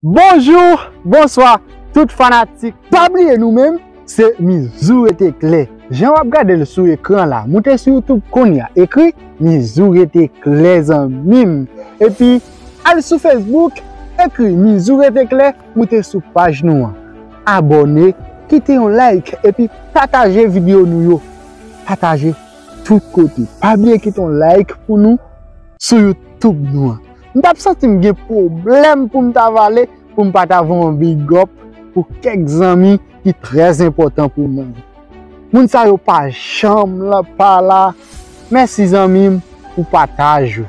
Bonjour, bonswa tout fanatik. Pa bliye nou menm se Mizou rete klè jan wap gadel sou ekran la moute sou youtube kounya ekri Mizou rete klè zanmim epi al sou Facebook ekri Mizou rete klè moute sou paj nou an abòne kite yon like epi pataje video nou yo pataje tout kote pa bliye kite yon like pou nou sou youtube nou an. m tap santi m gen pwoblèm pou m ta vale pou m pa ta voye yon big up pou kèk zanmi ki trè enpòtan pou mwen. Moun sa yo pa janm pa la. Mèsi zanmi m pou pataj ou.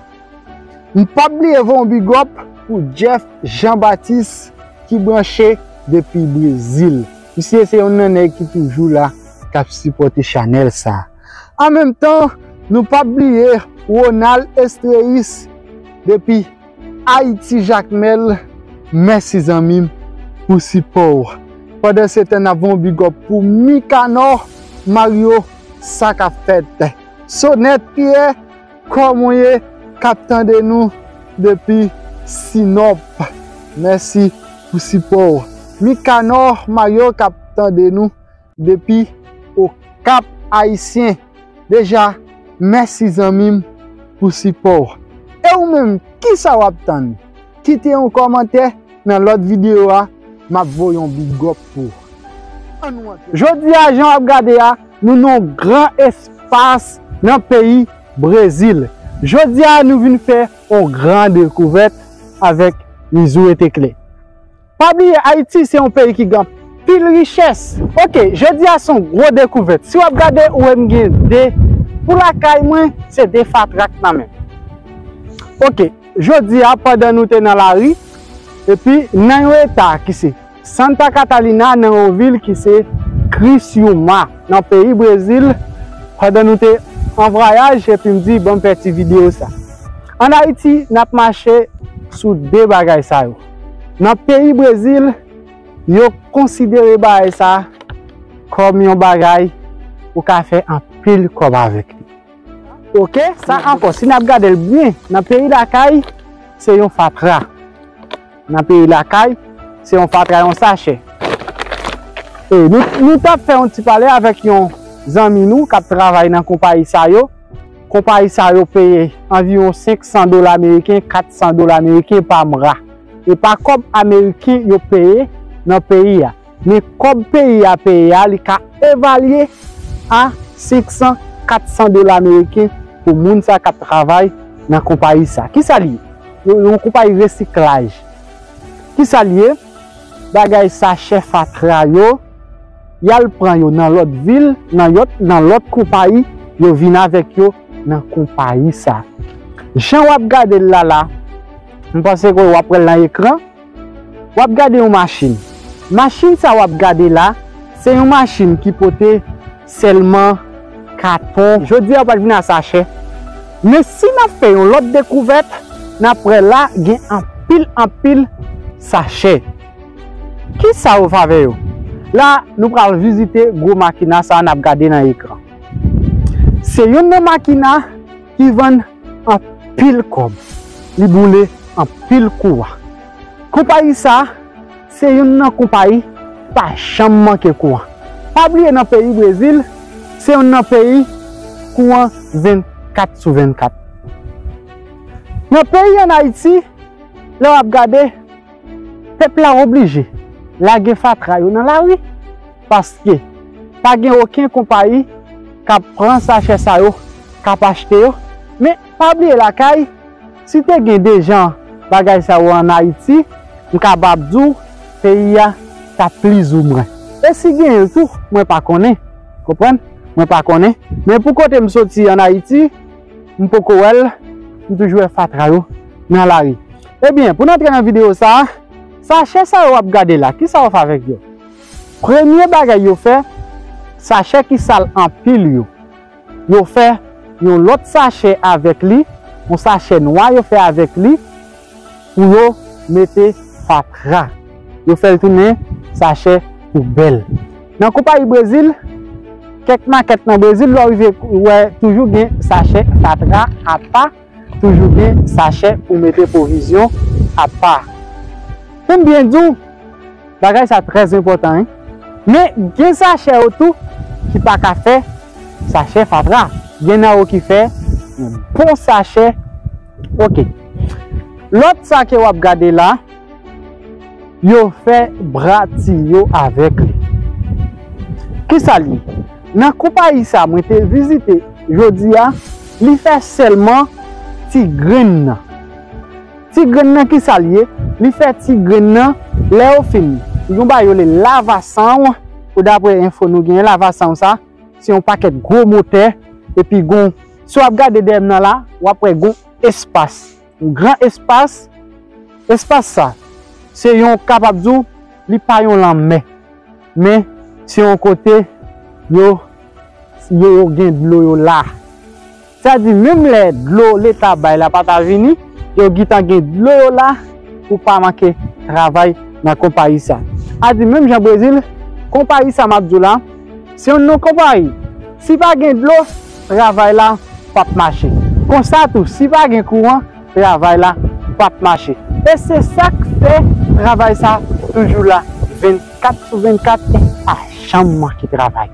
M pap bliye voye yon big up pou Jeff Jean Baptiste ki branche depi Brezil. Misye se yon nan nèg ki toujou la kap sipòte chanèl sa. An menm tan, nou pap bliye Ronald Estreis depi Ayiti Jakmèl, mèsi zanmi m pou sipò w. Pandansetan n ap voye yon big up pou Mikanò Maryo sa k ap fèt. Sonèt Pyè, kò mwen ye k ap tande nou depi Sinòp, mèsi pou sipò w. Mikanò Maryo k ap tande nou. Depi okap ayisyen deja mèsi zanmim pou sipòw e ou menm kisa wap tann kite yon kòmantè nan lòt video a map voye yon bigòp pou ou jodia jan wap gade a nou nan yon gran espas nan peyi brezil jodia nou vin fè yon gran dekouvèt avèk mizou etekle. Pa bliye Haiti se yon peyi ki gen anpil richès. Ok jodi a son gwo dekouvèt si wap gade ou wem gen 2 pou lakay mwen se 2 fatra k nan menm ok jodi a pandan nou te nan lari epi nan yon eta ki se Santa Catalina nan yon vil ki se Criciúma nan peyi brezil pandan nou te an vwayaj epi m di banm fè ti video sa an Haiti nap mache sou 2 bagay sa yo. Nan peyi Brezil, yo konsidere bagay sa kòm yon bagay ou ka fè anpil kòb avèk li. Ok, sa ankò, si n ap gade l byen, nan peyi lakay, se yon fatra. Nan peyi lakay, se yon fatra, yon sachè. E nou t ap fè yon ti pale avèk yon zanmi nou k ap travay nan konpayi sa yo. Konpayi sa yo peye anviwon 500 dola meriken, 400 dola meriken pa mra. E pa kòb ameriken yo peye nan peyi a. Men kòb peyi a peye a li ka evalye a 500, 400 dola meriken pou moun sa k ap travay nan konpayi sa. Ki sa l ye? Yon konpayi resiklaj. Ki sa l ye? Bagay sa chè fatra yo. yal pran yo nan lòt vil nan yòt nan lòt konpayi yo vin avèk yo nan konpayi sa jan wap gadel la la m panse ke wap wèl nan ekran wap gade yon machin machin sa wap gade la se yon machin ki pote sèlman katon jodi a ou pat vin a sachè men si nap fè yon lòt dekouvèt nap wè la gen anpil anpil sachè. Kisa yo fè avè yo? La nou pral vizite gwo makina sa nap gade nan ekran. Se yonn nan makina ki vann anpil kòb, li boule anpil kouran. Konpayi sa se yonn nan konpayi ki pa janm manke kouran. Pa bliye nan peyi Brezil se yonn nan peyi kouran 24 sou 24. Nan peyi an Ayiti lè wap gade. Pèp la oblije lage fatra yo nan lari paske pa gen oken konpayi k ap pran sachè sa yo k ap achte yo. Men, pa bliye lakay, si te gen de jan bagay sa yo an Ayiti, m kabap di w peyi a t ap plizoumwen. E si gen l tou, mwen pa konnen, konprann, mwen pa konnen. Men pou kote m soti an Ayiti, m poko wè l, m toujou wè fatra yo nan lari. Ebyen, pou n antre nan videyo sa a, sachè sa yo w ap gade la, kisa yo fè avèk yo? Premye bagay yo fè, sachè ki sal anpil yo, yo fè yon lòt sachè avèk li, yon sachè nwa yo fè avèk li, Pou yo mete fatra. Yo fè l tounen sachè poubèl. Nan konpayi Brezil, kèk makèt nan Brezil lè w rive wè toujou gen sachè fatra apa, toujou gen sachè pou mete pwovizyon apa. Pou m byen di w, bagay sa trè enpòtan wi. Men gen sachè yo tou ki pa ka fè sachè fatra. Gen nan yo ki fè yon bon sachè. Ok Lot sa ke wap gade la Yo fè bra ti yo avek li Kisa li ye Nan konpayi sa mwen te vizite Jodi a Li fè selman ti grenn nan Ti grenn nan kisa li ye Li fè ti grenn nan Lè yo fin Yon bagay yo rele lavasanw Pou dapre enfo nou genyen lavasanw sa. Se yon pakèt gwo motè epi gon, si w ap gade dèyè m nan la, w ap wè gon espas, yon gran espas. Espas sa, se yon kapab di w li pa yon lanmè, men se yon kote yo gen dlo yo la. Sa di menm lè dlo leta bay la pa ta vini, yo gitan gen dlo yo la pou pa manke travay nan konpayi sa. A di menm jan Brezil, konpayi sa map di w la, se yon non konpayi. Si pa gen dlo, travay la pap mache. Konsa tou, si pa gen kouran, travay la pap mache. E se sak fè travay sa toujou la 24 sou 24, e pa janm manke travay.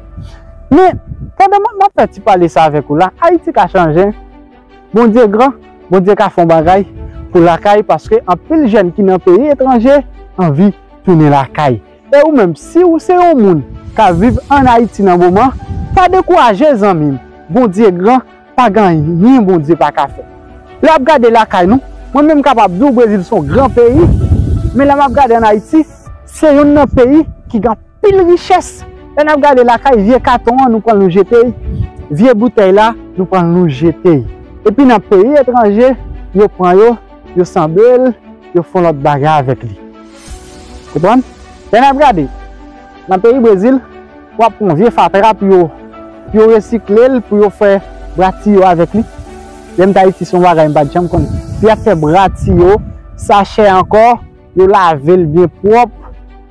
Men, pandan m ap fè ti pale sa avèk ou la, Ayiti ka chanje. Bondye gran, Bondye ka fè yon bagay pou lakay paske anpil jèn ki nan peyi etranje anvi tounen lakay. E ou menm, si ou se yon moun k ap viv ann Ayiti nan moman, pa dekouraje zanmi m. Bondye gran, pa gen anyen Bondye pa ka fè. Lè w ap gade lakay nou, mwen menm m kapab di w Brezil se yon gran peyi, men lè m ap gade ann Ayiti, se youn nan peyi ki gen. Pil richès! Lè nap gade lakay, vye katon an nou pran nou jete y, vye boutèy la nou pran nou jete y. Epi nan peyi etranje, yo pran yo, yo sanble l, yo fon lòt bagay avèk li. Konprann? Lè nap gade, nan peyi Brezil, wap pran vye fatra pou yo, pou yo resikle l, pou yo fè bra tiyo avèk li. Lèm t Ayiti son bagay m pat janm konn. Pou yap fè bra tiyo, sachè ankò. Yo lave l byen pwòp,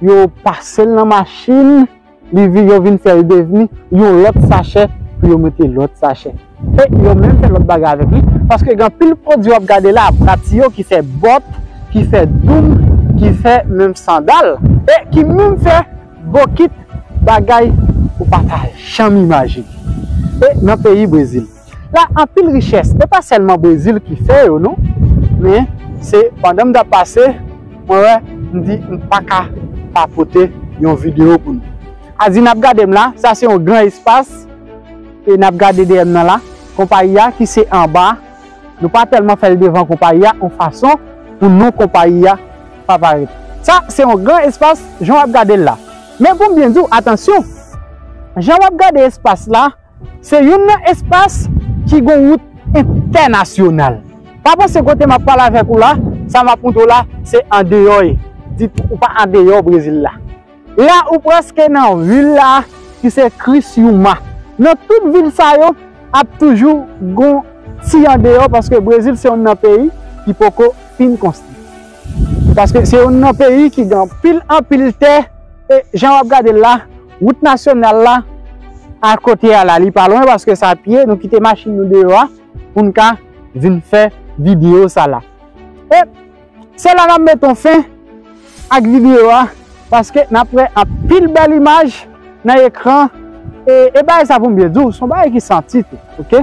yo pase l nan machin, li vin, yo vin fè l devni yon lòt sachè pou yo mete lòt sachè. E yo menm fè lòt bagay avèk li, paske gen anpil pwodui w ap gade la, prati yo ki fè bòt, ki fè doum, ki fè menm sandal, e ki menm fè bokit, bagay ou pa ta janm imajine. E nan peyi Brezil. la anpil richès e pa sèlman brezil ki fè yo non men se pandan m tap pase mwen wè m di m paka pa pote yon video pou nou Azi nap gade m la sa se yon gran espas e nap gade dèyè m nan la konpayi a ki se anba nou pa tèlman fèl devan konpayi a yon fason pou non konpayi a pa parèt sa se yon gran espas jan wap gade l la men pou m byen di w atansyon jan wap gade espas la. Se youn nan espas ki gon wout entènasyonal. Pa panse kote m ap pale avèk ou la, sa m ap montre w la, se andeyò e, dit ou pa andeyò Brezil la. La ou prèske nan vil la ki se Criciúma. Nan tout vil sa yo, ap toujou gon ti andeyò paske Brezil se youn nan peyi ki poko fin konstwi. Paske se youn nan peyi ki gen anpil anpil tè e jan w ap gade l la, Wout nasyonal la a kote a la li pa lwen paske sa pye nou kite machin nou deyo a pou n ka vin fè videyo sa la. E se la nan meton fen ak videyo a paske nap wè anpil bèl imaj nan ekran e bagay sa pou m byen di w son bagay ki santi tou ok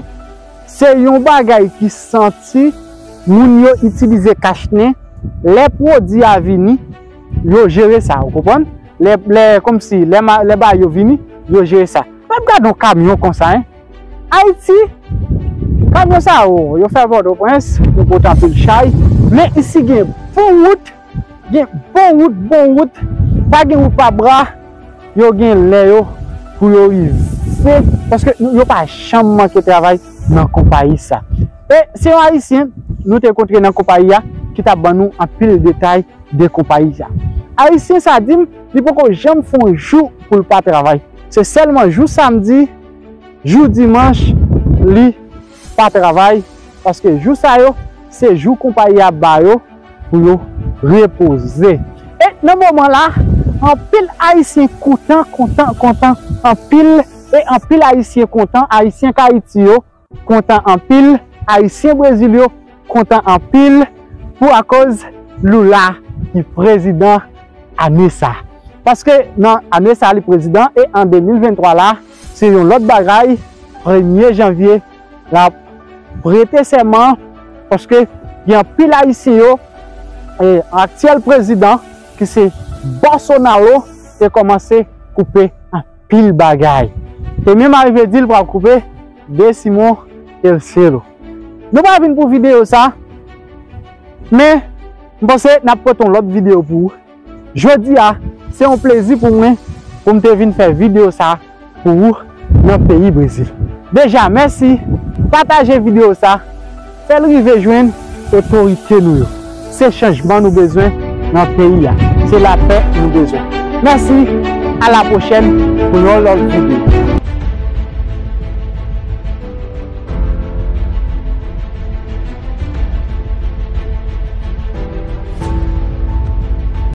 se yon bagay ki santi moun yo itilize kachnen lè pwodi a vini Yo jere sa ou konprann. Lè lè komsi lè ma lè bagay yo vini yo jere sa. Mèt gad yon kamyon konsa hein. Ayiti kamyon sa yo yo fè pòtoprens yo pot anpil chay men isi gen bon wout gen bon wout bon wout pa gen wout pa bra. Yo gen lè yo pou yo rive paske yo pa janm manke travay nan konpayi sa. E se yon ayisyen nou te kontre nan konpayi a ki ta ban nou anpil detay de konpayi a. Ayisyen sa di m li poko janm fè yon jou pou l pa travay. Se sèlman jou samdi, jou dimanch li. pa travay paske jou sa yo se jou konpayi a ba yo pou yo repoze. E nan moman la anpil ayisyen koutan kontan kontan anpil e anpil ayisyen kontan ayisyen kayiti yo kontan anpil ayisyen brezil yo kontan anpil pou akoz Lula ki prezidan ane sa paske nan ane sa li prezidan e an 2023 la Se yon lòt bagay, premye janvye la ap prete sèman paske gen anpil ayisyen yo e aktyèl prezidan ki se Bòsonalo te kòmanse koupe anpil bagay. Te menm arive di l pral koupe Desimon Telcero. Nou pa vin pou videyo sa men m panse n ap pote yon lòt videyo pou ou. Jodi a, se yon plezi pou mwen pou m te vin fè videyo sa pou ou nan peyi Brezil. Deja mèsi, pataje videyo sa, fè l rive jwenn otorite nou yo. Se chanjman nou bezwen nan peyi a, se lapè nou bezwen. Mèsi, a la pwochèn pou yon lòt videyo.